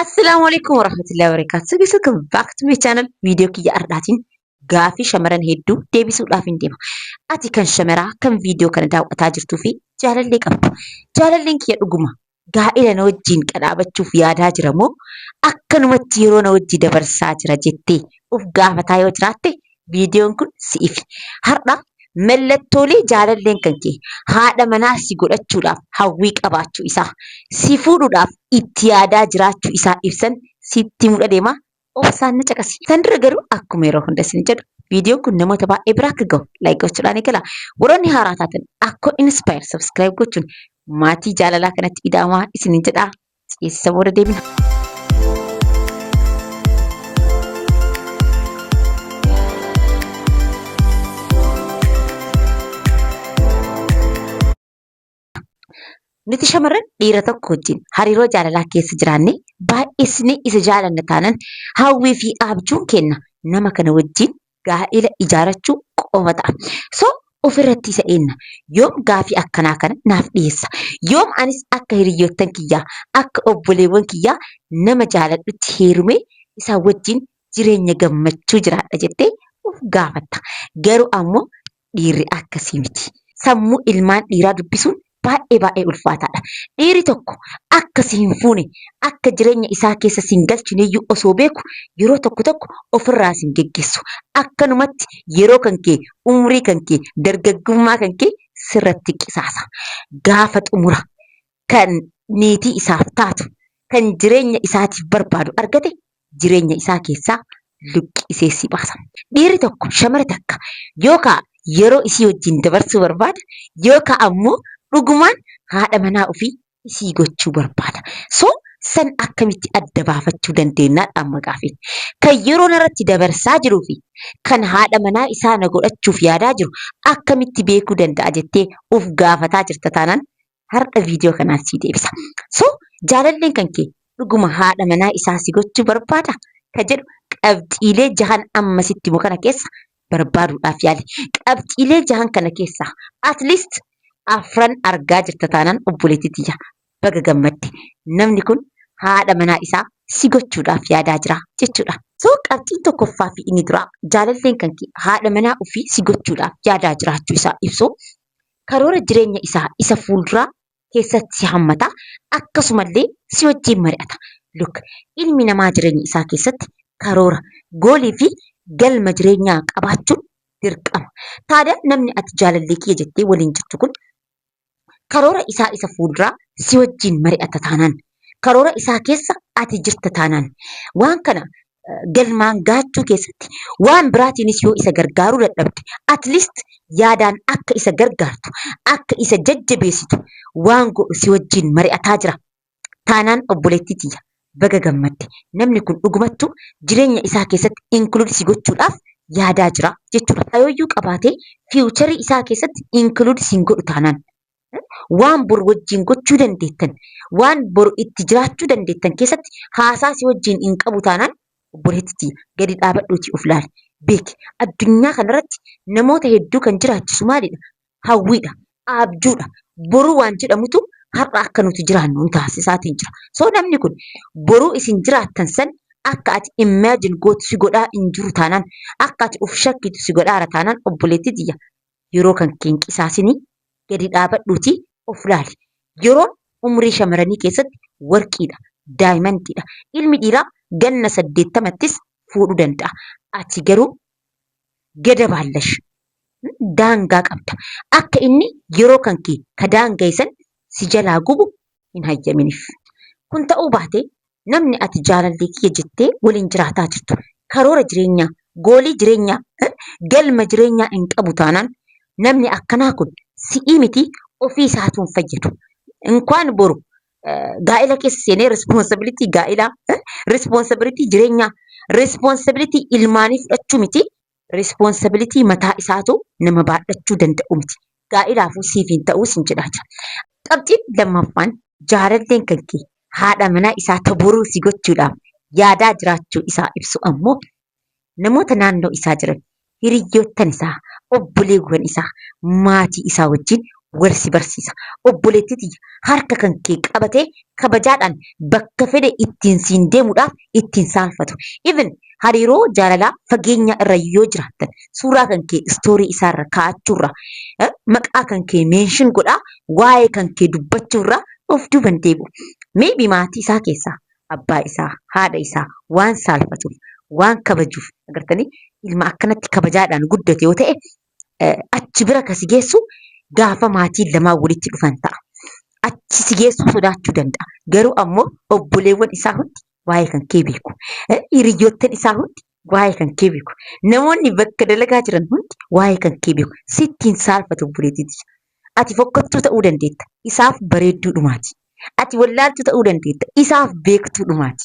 Assalaamu alaikum warahmatullahi wabarakatuh. So guys, welcome back to my channel. Viidiyoo kiyya har'aatiin gaafii shamaran hedduu deebisuudhaaf hin deema. Ati kan shamaraa kan viidiyoo kana daawwataa jirtuu fi jaalallee qabdu. Jaalalleen kiyya dhuguma gaa'ila na wajjin qadhaabachuuf yaadaa jira moo akkanumatti yeroo na wajji dabarsaa jira jettee of gaafataa yoo jiraatte Viidiyoon kun si'ifi. Har'a mallattoolee jaalalleen kan kee haadha manaa si godhachuudhaaf hawwii qabaachuu isaa, si fuudhuudhaaf itti yaadaa jiraachuu isaa ibsan sitti himuudha deema. Obsaan na caqasi. San dura garuu akkuma yeroo hunda isin jedhu viidiyoon kun namoota baay'ee bira akka gahu like gochuudhaan eegala. Warroonni haaraa taatan Akkoo Inspire subscribe gochuun maatii jaalalaa kanatti ida'amaa isiniin jedha. Ceesisa booda deebina. Nuti shamarran dhiira tokko wajjin hariiroo jaalalaa keessa jiraanne baay'isnee isa jaalanna taanan hawwii fi abjuun keenya nama kana wajjin gaa'ela ijaarachuu qofa ta'a. So ofirratti isa eenna. Yoom gaafii akkanaa kana naaf dhiyeessa? Yoom anis akka hiriyyoottan kiyyaa, akka obboleewwan kiyyaa nama jaaladhutti heerumee isaa wajjin jireenya gammachuu jiraadha jettee of gaafatta. Garuu ammoo Dhiirri akkasii miti. Sammuu ilmaan dhiiraa dubbisuun baay'ee baay'ee ulfaataadha. Dhiirri tokko akka si hin fuune, akka jireenya isaa keessa si hin galchineyyuu osoo beeku yeroo tokko tokko ofirraa si hin geggeessu. Akkanumatti yeroo kan kee, umrii kan kee, dargaggummaa kan kee sirratti qisaasa. Gaafa xumura kan niitii isaaf taatu, kan jireenya isaatiif barbaadu argate jireenya isaa keessaa luqqisee si baasa. Dhiirri tokko shamara takka yookaa yeroo isii wajjin dabarsuu barbaada yookaa ammoo dhugumaan haadha manaa ufii isii gochuu barbaada. So san akkamitti adda baafachuu dandeennaadha amma gaafiin. Kan yeroo narratti dabarsaa jiruu fi kan haadha manaa isaa na godhachuuf yaadaa jiru akkamitti beekuu danda'a jettee uf gaafataa jirta taanaan har'a viidiyoo kanaan sii deebisa. So jaalalleen kan kee dhuguma haadha manaa isaa si gochuu barbaada? Ka jedhu qabxiilee jahan amma sitti himu kana keessa barbaaduudhaaf yaali. Qabxiilee jahan kana keessaa at least afran argaa jirta taanaan obboleettii tiyya baga gammadde. Namni kun haadha manaa isaa si gochuudhaaf yaadaa jira jechuudha. So qabxiin tokkoffaa fi inni duraa jaalalleen kan kee haadha manaa ofii si gochuudhaaf yaadaa jiraachuu isaa ibsu. karoora jireenya isaa isa fuulduraa keessatti si hammata. Akkasuma illee si wajjin mari'ata. Look ilmi namaa jireenya isaa keessatti karoora, goolii fi galma jireenyaa qabaachuun dirqama. Taada namni ati jaalallee kiyya jettee waliin jirtu kun karoora isaa isa fuulduraa si wajjin mari'ata taanaan, karoora isaa keessa ati jirta taanaan, waan kana galmaan gahachuu keessatti waan biraatiinis yoo isa gargaaruu dadhabde at least yaadaan akka isa gargaartu akka isa jajjabeessitu waan godhu si wajjin mari'ataa jira. Taanaan obboleettii tiyya baga gammadde namni kun dhugumattu jireenya isaa keessatti include si gochuudhaaf yaadaa jira jechuudha. Kaayoyyuu qabaatee fiiwucharii isaa keessatti include siin godhu taanaan waan bor wajjin gochuu dandeettan, waan bor itti jiraachuu dandeettan keessatti haasaa si wajjin hin qabu taanaan obboleetti tiyya gadi dhaabadhuutii of laali. Beeki addunyaa kanarratti namoota hedduu kan jiraachisu maalidha? Hawwiidha, abjuudha. Boruu waan jedhamutu har'a akka nuti jiraannu nu taasisaatiin jira. So namni kun boruu isin jiraattan san akka ati imagine gootu si godhaa hin jiru taanaan, akka ati of shakkitu si godhaara taanaan obboleetti tiyya Yeroo kan kee hin qisaasinii, gadi dhaabadhuutii of laali. Yeroon umrii shamaranii keessatti warqiidha, daayimandiidha. Ilmi dhiiraa ganna 80ttis fuudhu danda'a. Ati garuu geda baallash, daangaa qabda. Akka inni yeroo kan kee ka daanga'e san si jalaa gubu hin hayyaminif. Kun ta'uu baatee namni ati jaalallee kiyya jettee waliin jiraataa jirtu karoora jireenyaa, goolii jireenyaa, eh, galma jireenyaa hin qabu taanaan namni akkanaa kun si'ii miti ofii isaatu hin fayyadu. Inkwaan boru eh, gaa'ela keessa seenee responsibility gaa'elaa, eh, responsibility jireenyaa, responsibility ilmaanii fudhachuu miti Responsibility mataa isaatu nama baadhachuu danda'u miti. Gaa'ilaafuu siif hin ta'uu sin jedhaa jira. Qabxiin lammaffaan jaalalleen kan kee haadha manaa isaa ta boruu si gochuudhaaf yaadaa jiraachuu isaa ibsu ammoo namoota naannoo isaa jiran, hiriyyoottan isaa, obboleewwan isaa, maatii isaa wajjin wal si barsiisa. Obboleettii tiyya harka kan kee qabatee kabajaadhaan bakka fedhe ittiin siin deemuudhaaf ittiin saalfatu. Even hariiroo jaalalaa fageenyaa irra yoo jiraattan suuraa kan kee istoorii isaarra kaa'achuurra eh, maqaa kan kee meenshin godhaa waa'ee kan kee dubbachuurra of duuban deebi'u. Maybe maatii isaa keessaa abbaa isaa, haadha isaa waan saalfatuuf, waan kabajuuf agartanii ilma akkanatti kabajaadhaan guddate yoo ta'e achi bira kan si geessu gaafa maatiin lamaan walitti dhufan ta'a. Achi si geessuu sodaachuu danda'a. Garuu ammoo obboleewwan isaa hundi waa'ee kan kee beeku. Hiriyoottan isaa hundi waa'ee kan kee beeku. Namoonni bakka dalagaa jiran hundi waa'ee kan kee beeku. Sitti hin saalfatu obboleettii tiyya. Ati fokkottuu ta'uu dandeetta. Isaaf bareedduu dhumaati. Ati wallaaltuu ta'uu dandeetta. Isaaf beektuu dhumaati.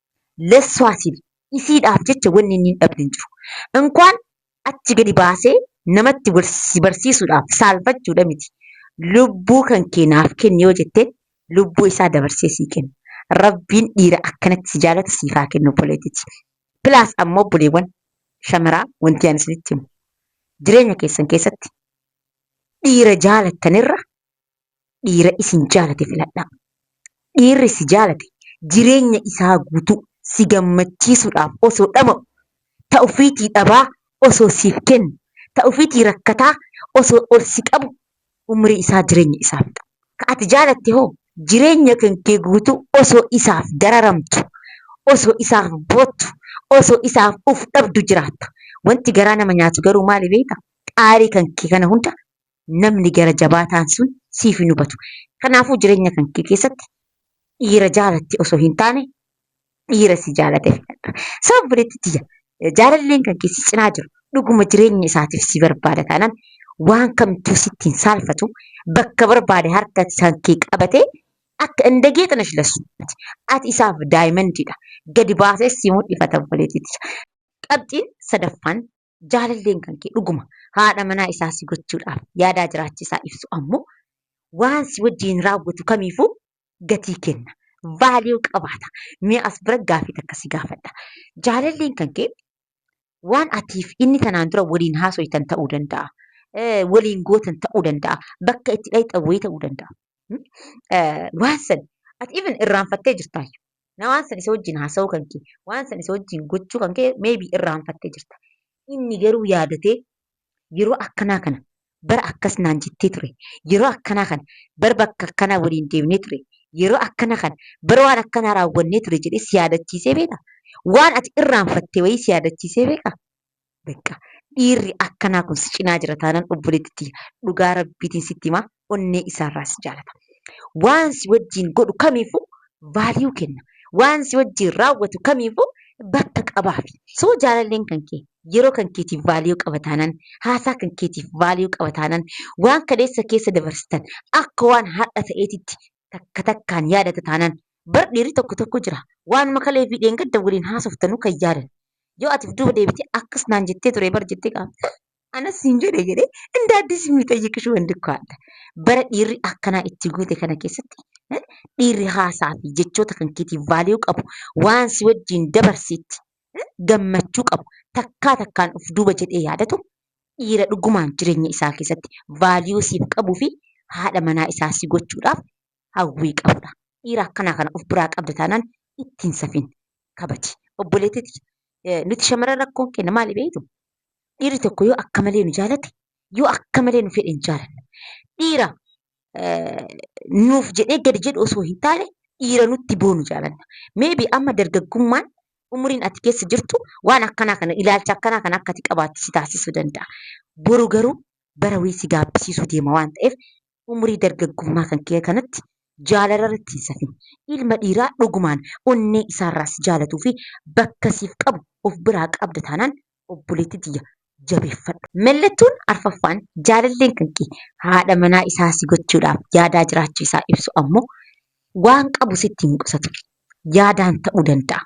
lessuwaa siif isiidhaaf jecha wanni inni hin dhabne hin jiru. Inkwaan achi gadi baasee namatti wal si barsiisuudhaaf saalfachuudha miti. Lubbuu kan kee naaf kenni yoo jetteen lubbuu isaa dabarsee sii kenna. Rabbiin dhiira akkanatti si jaalatu siif haa kennu obboleettiti. Plus ammoo obboleewwan shamaraa wanti ani isinitti himu jireenya keessan keessatti dhiira jaalattanirra dhiira isin jaalate filadhaa. Dhiirri si jaalate jireenya isaa guutuu si gammachiisuudhaaf osoo dhama'u, ta ufiitii dhabaa osoo siif kennu, ta ufiitii rakkataa osoo ol si qabu umrii isaa jireenya isaa fixa. Ka ati jaalatte hoo jireenya kankee guutuu osoo isaaf dararamtu, osoo isaaf boottu, osoo isaaf uf dhabdu jiraatta. Wanti garaa nama nyaatu garuu maali beeyta? Aarii kankee kana hunda namni gara jabaataan sun siif hin hubatu. Kanaafuu jireenya kan kee keessatti dhiira jaalatte osoo hin taane dhiira si jaalate filadhu. Sababa obboleetti tiyya jaalalleen kan kee si cinaa jiru dhuguma jireenya isaatiif si barbaada taanaan waan kamtuu sitti hin saalfatu bakka barbaade harka kan kee qabatee akka hin dagee tana shilasu. Ati isaaf daayimandiidha. Gadi baasees si mul'ifata obboleetti tiyya. Qabxiin sadaffaan jaalalleen kan kee dhuguma haadha manaa isaa si gochuudhaaf yaadaa jiraachi isaa ibsu ammoo waan si wajjin raawwatu kamiifuu gatii kenna. Vaaliyuu qabaata. Mee as bira gaaffii takka si gaafadha. Jaalalleen kan kee waan atiif inni tanaan dura waliin haasoytan ta'uu danda'a. Eh, Waliin gootan ta'uu danda'a. Bakka itti dhayxan wayii ta'uu danda'a. Hmm? Eh, Waan san ati even irraanfattee jirtaayyu. na waan san isa wajjin haasa'uu kan kee waan san isa wajjin gochuu kan kee maybe irraanfattee jirta inni garuu yaadatee yeroo akkanaa kana bara akkas naan jettee ture yeroo akkanaa kana bara bakka akkanaa waliin deemnee ture yeroo akkana kana bara waan akkanaa raawwannee ture jedhee si yaadachiisee beeka waan ati irraanfattee wayii si yaadachiisee beeka Beqqa dhiirri akkanaa kun si cinaa jira taanan obboleetti tiyya dhugaa rabbiitiin sitti himaa onnee isaarraa si jaalata. Waan si wajjiin godhu kamiifuu value kenna. Waan si wajjiin raawwatu kamiifuu bakka qabaafi. So jaalalleen kan kee yeroo kan keetiif value qaba taanan, haasaa kan keetiif value qaba taanan, waan kaleessa keessa dabarsitan akka waan har'a ta'eetitti takka takkaan yaadata taanaan. Bar dhiirri tokko tokko jira waanuma kalee fi dheengadda waliin haasoftanuu kan yaadan. Yoo ati duuba deebitee akkas naan jettee ture bar jettee gaafte anas siin jedhe jedhee inda addis miixayyiqish wanti koo adda. Bara dhiirri akkanaa itti guute kana keessatti eh, dhiirri haasaa fi jechoota kan keetiif vaaliyuu qabu waan si wajjin dabarsiitti eh, gammachuu qabu takkaa takkaan of duuba jedhee yaadatu dhiira dhugumaan jireenya isaa keessatti value siif qabuu fi haadha manaa isaa si gochuudhaaf hawwii qabudha. Dhiira akkanaa kana of biraa qabda taanaan ittiin safin kabaji. Obboleettiti nuti shamarran rakkoon keenya maali beektu? Dhiirri tokko yoo akka malee nu jaalate yoo akka malee nu fedhe hin jaalannu. Dhiira nuuf jedhee gadi jedhu osoo hin taane dhiira nutti boonu jaalanna. Meebi amma dargaggummaan umriin ati keessa jirtu waan akkanaa kana ilaalcha akkanaa kana akka ati qabaattu si taasisuu danda'a. Boru garuu bara wayii si gaabbisiisuu deema waan ta'eef umrii dargaggummaa kan kee kanatti jaalala irratti hin safin. Ilma dhiiraa dhugumaan onnee isaarraa si jaalatuu fi bakka siif qabu of biraa qabda taanaan obboleettii tiyya jabeeffadhu. Mallattoon arfaffaan jaalalleen kanke haadha manaa isaa si gochuudhaaf yaadaa jiraachuu isaa ibsu ammoo waan qabu sitti hin qusatu. Yaadaan ta'uu danda'a.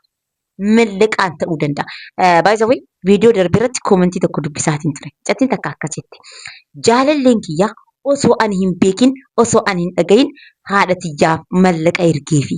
Mallaqaan ta'uu danda'a. By the way viidiyoo darbe irratti koomentii tokko dubbisaatiin ture. Mucattiin takka akkas jette. Jaalalleen kiyya osoo ani hin beekin osoo ani hin dhagahin haadha tiyyaaf mallaqa ergeefi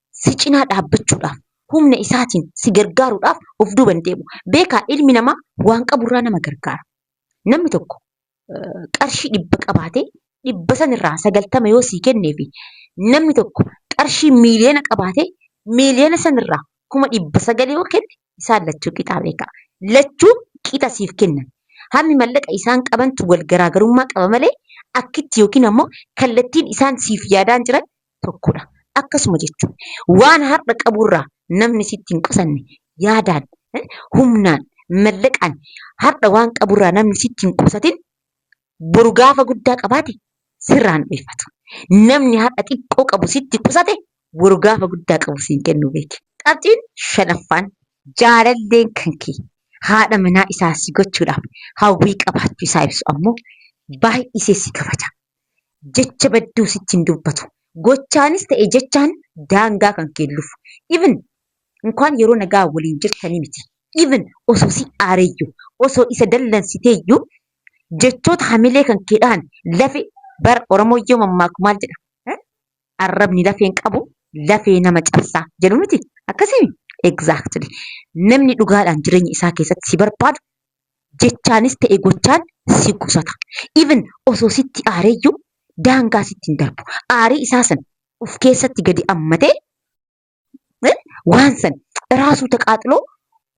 si cinaa dhaabbachuudhaaf, humna isaatiin si gargaaruudhaaf of duuba hin deebi'u. Beekaa ilmi namaa waan qaburraa nama gargaara. Namni tokko qarshii dhibba qabaatee dhibba sanirraa sagaltama yoo sii kenneefi namni tokko qarshii miiliyoona qabaatee miiliyoona sanirraa kuma dhibba sagal yoo kenne isaan lachuu qixaa beekaa. Lachuu qixa siif kennan. Hammi mallaqa isaan qabantu wal garaagarummaa qaba malee akkitti yookiin ammoo kallattiin isaan siif yaadaan jiran tokkodha. Akkasuma jechuun waan har'a qaburraa namni sitti hin qusanne yaadaan, humnaan, mallaqaan har'a waan qaburraa namni sitti hin qusatin boru gaafa guddaa qabaate sirraa hin dheeffatu. Namni har'a xiqqoo qabu sitti qusate boru gaafa guddaa qabu siin kennu beeki. Qabxiin shanaffaan jaalalleen kan kee haadha manaa isaa si gochuudhaaf hawwii qabaachuu isaa ibsu ammoo baay'isee si kabaja. jecha badduu sitti hin dubbatu. Gochaanis ta'e jechaan daangaa kan keellufu. Even inkwaan yeroo nagaa waliin jirtanii miti. Even osoo si aareeyyu, osoo isa dallansiteeyyu jechoota hamilee kan kee dhahan lafe bar Oromoon yoo mammaaku maal jedha? Eh? Arrabni lafeen qabu lafee nama cabsaa jedhu miti. Akkasii? Exactly. Namni dhugaadhaan jireenya isaa keessatti si barbaadu jechaanis ta'e gochaan si qusata. Even osoo sitti aareeyyuu daangaa sitti hin darbu. Aarii isaa san of keessatti gadi ammatee eh, waan san raasuu taqaaxiloo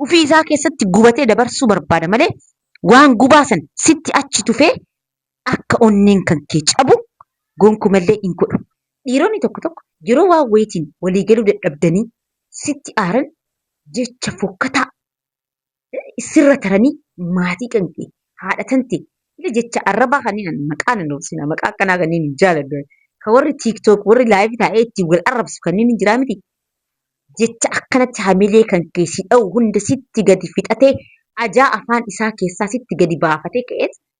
ofii isaa keessatti gubatee dabarsuu barbaada malee waan gubaa san sitti achi tufee akka onneen kan kee cabu gonkumallee hin godhu. Dhiironni tokko tokko yeroo waan wayitiin walii galuu dadhabdanii sitti aaran jecha fokkataa sirra taranii maatii kan kee haadha kan ta'e ila jecha arrabaa kanneen ani maqaa nan obsina maqaa akkanaa kanneen hin jaaladhu ka warri tiiktook warri laayivii taa'ee ittiin wal arrabsu kanneen hin jiraa miti jecha akkanatti hamilee kan kee si dha'u hunda sitti gadi fixatee ajaa afaan isaa keessaa sitti gadi baafatee ka'eet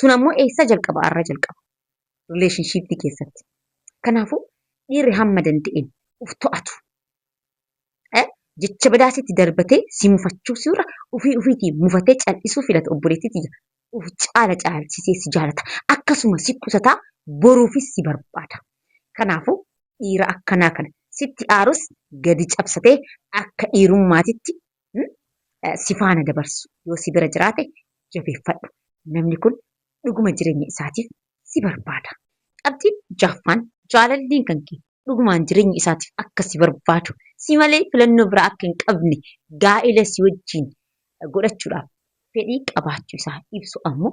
Sun ammoo eessaa jalqaba? Arra jalqaba. Rileeshinshiippii keessatti. Kanaafuu dhiirri hamma danda'een uf to'atu. Eh, Jecha badaa sitti darbatee si mufachuu si'urra ufii ufiitii mufatee cal'isuu filata obboleettii tiyya. Uf caala caalchisee si jaalata. Akkasuma si qusataa boruufis si barbaada. Kanaafuu dhiira akkanaa kana sitti aarus gadi cabsatee akka dhiirummaatitti si faana dabarsu yoo si bira jiraate jabeeffadhu. Namni kun dhuguma jireenya isaatiif si barbaada. Qabxiin jaaffaan jaalalleen kan kee dhugumaan jireenya isaatiif akka si barbaadu si malee filannoo biraa akka hin qabne gaa'ila si wajjin godhachuudhaaf fedhii qabaachuu isaa ibsu ammoo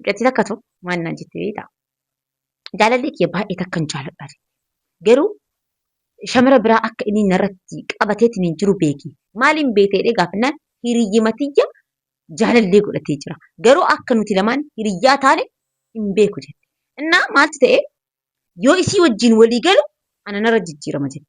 Mucattii takkatu maal naan jette beektaa? Jaalallee kiyya baay'ee takkan jaaladha jette. Garuu shamara biraa akka inni narratti qabateetiin hin jiru beeki. Maaliin beekte jedhee gaafannaan hiriyyima tiyya jaalallee godhatee jira. Garuu akka nuti lamaan hiriyyaa taane hin beeku jette. Innaa maaltu ta'e yoo isii wajjin walii galu ana narra jijjiirama jette.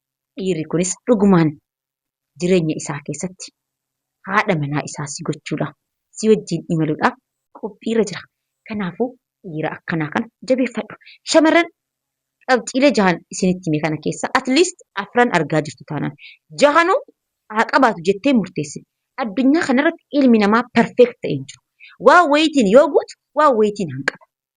dhiirri kunis dhugumaan jireenya isaa keessatti haadha manaa isaa si gochuudhaaf, si wajjin imaluudhaaf qophiirra jira. Kanaafuu dhiira akkanaa kana jabeeffadhu. Shamarran qabxiilee jahan isinitti hime kana keessaa at least afran argaa jirtu taanaan jahanuu haa qabaatu jettee murteessi. Addunyaa kanarratti ilmi namaa perfect ta'e hin jiru. Waan wayiitiin yoo guutu waan wayiitiin hanqata.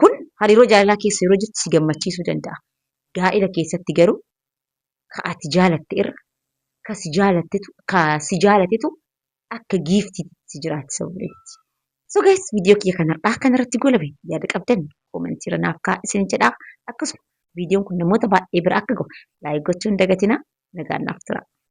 Kun hariiroo jaalalaa keessa yeroo jirtu si gammachiisuu danda'a. Gaa'ila keessatti garuu ka ati jaalatte irra ka si jaalattetu ka si jaalatetu akka giiftiitti si jiraatti sababa itti. So guys viidiyoo kiyya kan har'aa kan irratti goolabe yaada qabdan koomentii irra naaf kaa'aa isin jedha. Akkasuma viidiyoon kun namoota baay'ee bira akka gahu laayik gochuu hin dagatinaa nagaan naaf turaa.